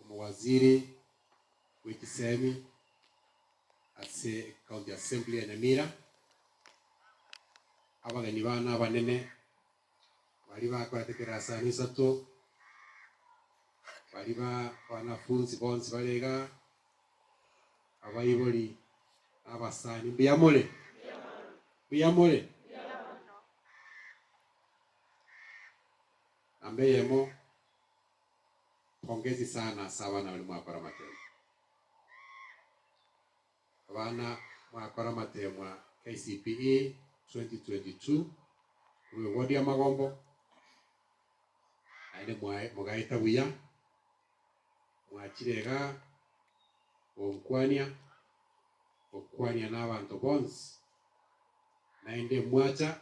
Omowaziri bw'echisemi ase County Assembly ya Nyamira, abageni bane abanene baria bakorete kerasano isato, baria ba banafunzi bonsi bare iga, abaibori na abasani, mbuya more? Mbuya more? Namba eyemo. Pongezi sana ase abana baria mwakora amategwa. Abana mwakora amategwa KCPE 2022 korwa ewodi ya Magombo naende mwae mogaeta buya, mwachire igaa gonkwania, gokwania nabanto bonsi naende mwacha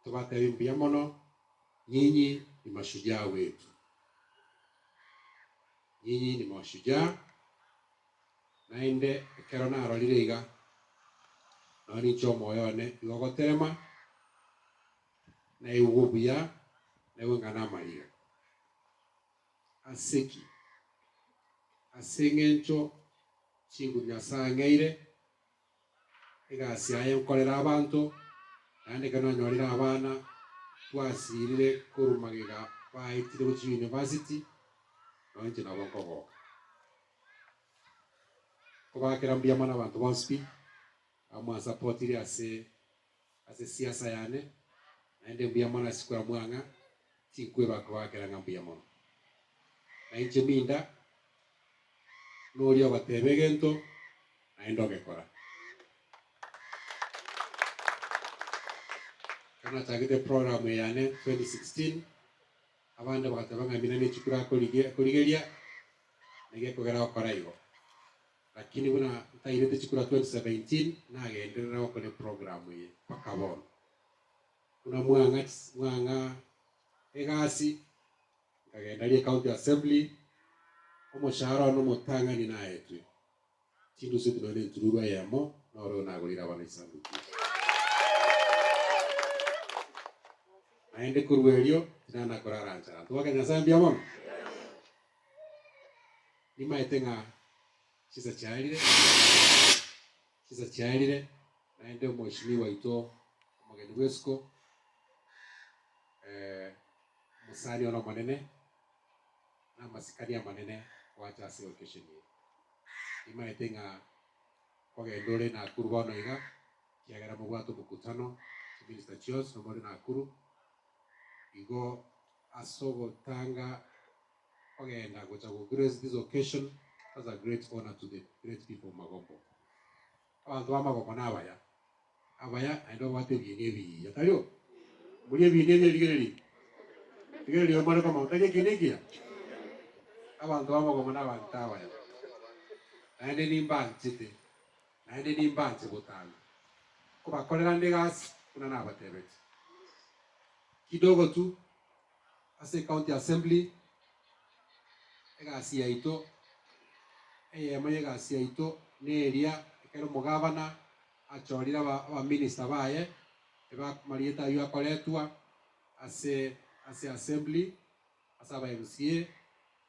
Tobatebie mbuya mono, nyinyi nimashujaa gwetu. Nyinyi nimashujaa, naende ekero narorire iga, nao ninche omoyo one igo ogoterema, naigwe obuya, naigwe ng'a namariga. Ase ki? Ase engencho chinguru Nyasae ang'eire. Egasi yaye nkorera abanto, naende ekero nanyorire abana, twasiirire korwa magega baetire gochia yunivasiti, nao inche nabo nkogoka. Nkobaakera mbuya mono abanto bonsi pi, abamwansapotire ase. Ase siasa yane, naende mbuya mono ase koeamwa ng'a tinkweba koakera ng'a mbuya mono. Na inche minda noria ogoteba egento naende ogekora. Ekero nachagete program eyane 2016, abande bagateba ng'a Minani chikuru akorigeria, na igo ekogera gokora igo. Lakini buna ntairete chikura 2017 nagenderera gokora eprogramu eye mpaka bono. Buna mwang'a mwang'a egasi nkagenda ria ecounty assembly, omoshahara one omotang'ani naetwe chindusitu nonya ne entururu eyemo noro oyo nagorire abana chisanduku ichi. Naende korwa erio tinana korara nchara. Ntobwake Nyasae mbuya mono. Nimaete ng'a chinsa chiarire, chinsa chiarire, naende omochimi waito omogeni bw'esuko, ee, omosani one omonene, namasikani amanene gwacha ase eokesheni eye. Nimaete ng'a kogenda ore Nakuru bono iga, ekiagera mobwate omokutano, chiminista chionsi nomore Nakuru, igo ase ogotanga. Kogenda gocha go grace this occasion as a great honour to the great people of Magombo. Abanto ba Magombo nabaya, abaya naende babwate ebiina ebiya, tario? Mori ebiina ebiya rigereria, rigereria oyo more komanya tari ekiina ekiya. Abanto ba Magombo nabanto abaya, naende nimbanchete, naende nimbanche botaana kobakorera ande egasi buna nabatebete. Kidogo tu. ase ecounty assembly, egasi yaito, eyemo y'egasi yaito neria ekero omogavana achorire aba abaminister baye eba amarieta ayio akoretwa ase ase assembly ase aba MCA,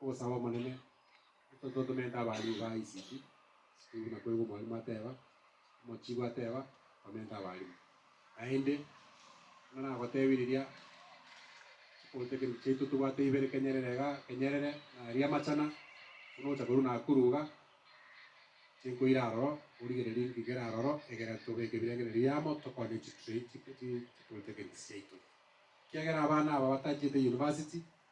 Ogosaba Omonene, Intwe totomente abaaria igo aa isiki, isiki buna koigo omwarimu ateeba, omochigu ateeba, Tomente abarimu. Naende, buna nagoteebia riria, chikotekereria chiaito tobwate ibere kenyerere iga kenyerere, na aria amachana, buna ogocha korwa Nakuru iga, chinkoira aroro, origereria ngigere aroro, egere tobeke ebirengererio amo, tokonye chitray chi- chi- chikotekereria chiaito. Ekiagera abana aba batachete University,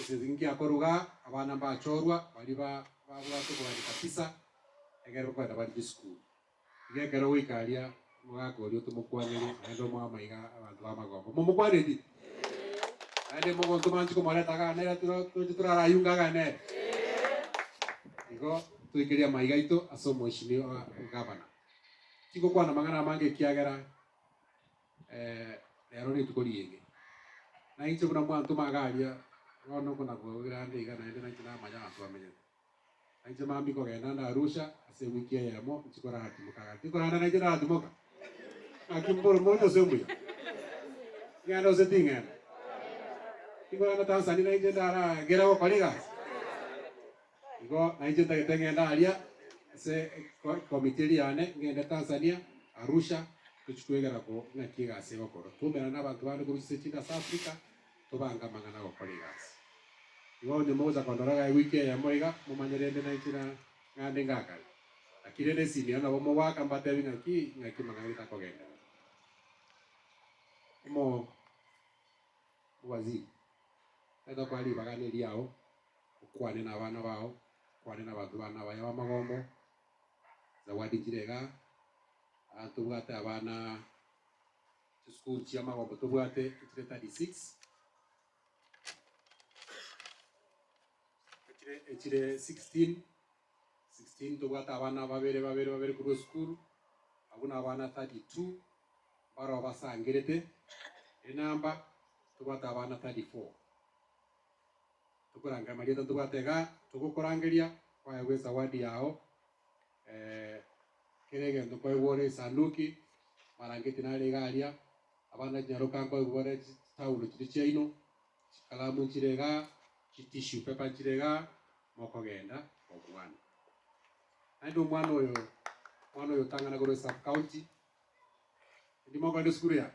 Esegi ngiakoruga, abana mbachorwa baria babwate okoganika pisa egerero kogenda baria chisukuru. Iga ekero goika aria omogaka oria otomokwaneri, naende omwama iga abanto b'amagomba momokwaneti? Naende mogonto manche komoreta aganere toche torarayunge aganere? Igo toikerie amaiga aito ase omoishimi o egavana. Tigokwana amang'ana amange ekiagera Rero rituko ri'enke nainche buna mwanto magaria bono nkonakwa gokira ande iga naende nainche namanya abanto bamenyete. Nainche mambie kogenda ande Arusha ase ewiki eyemo inche koratimoka gati korende nainche naratimoka? Naki mboro mono ase omuya. Ngende gose tingenda? Tingorenda Tanzania nainche ndaragere gokora egasi? Igo nainche ntagete ng'ende aria ase ekomiti eria yane, ng'ende Tanzania, Arusha, tochie kwegera ko ng'aki egasi egokorwa, twaumerane na abanto bande korwa chinse chinde ase Africa, tobange amang'ana agokora egasi. Igo onye mogocha kondora gaki wiki eyemo iga, momanye rende nainche na ng'ande ngakare. Naki rende esiniro nabo mogoaka mbatebi ng'aki ng'aki amang'ana getakogenderera. Omo, Waziri, tari tokora ribaga neriao. okwane nabana bao, okwane nabanto bane abaya b'amagombo, Zawadi chirega, aa tobwate abana chisukuru chia magombo tobwate 236 echire echire 16 16 tobwate abana babere babere babere korwa esukuru abwo nabana 32 baroo basangerete enamba tobwate abana 34 Tokoranga amarieta tobwate iga togokorangeria, kwayegwa esawadi yao, ee, kera egento kwaigwa ore esanduki, marangeti nare iga aria, abana chinyaroka nkwaigwa bare chi- chitaulo chiria chiaino, chikalamu nchire iga, chitissue paper nchire iga, mokogenda kobwana. Naende omwana oyo, omwana oyo otang'ana korwa esub-county, erio mokogenda esukuru yaye.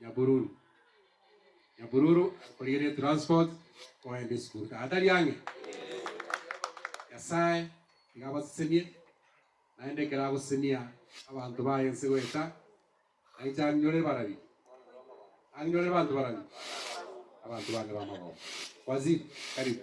Nyabururu. Nyabururu akorigereria transport koenda esukuru taiga tari ang'e? Nyasae nigo abasesenie, naende ekero agosesenia abanto baye ense goeta, nainche ang'inyore barabia. Ang'inyore abanto barabia? Abanto bane b'amagoko. Waziri, karibu.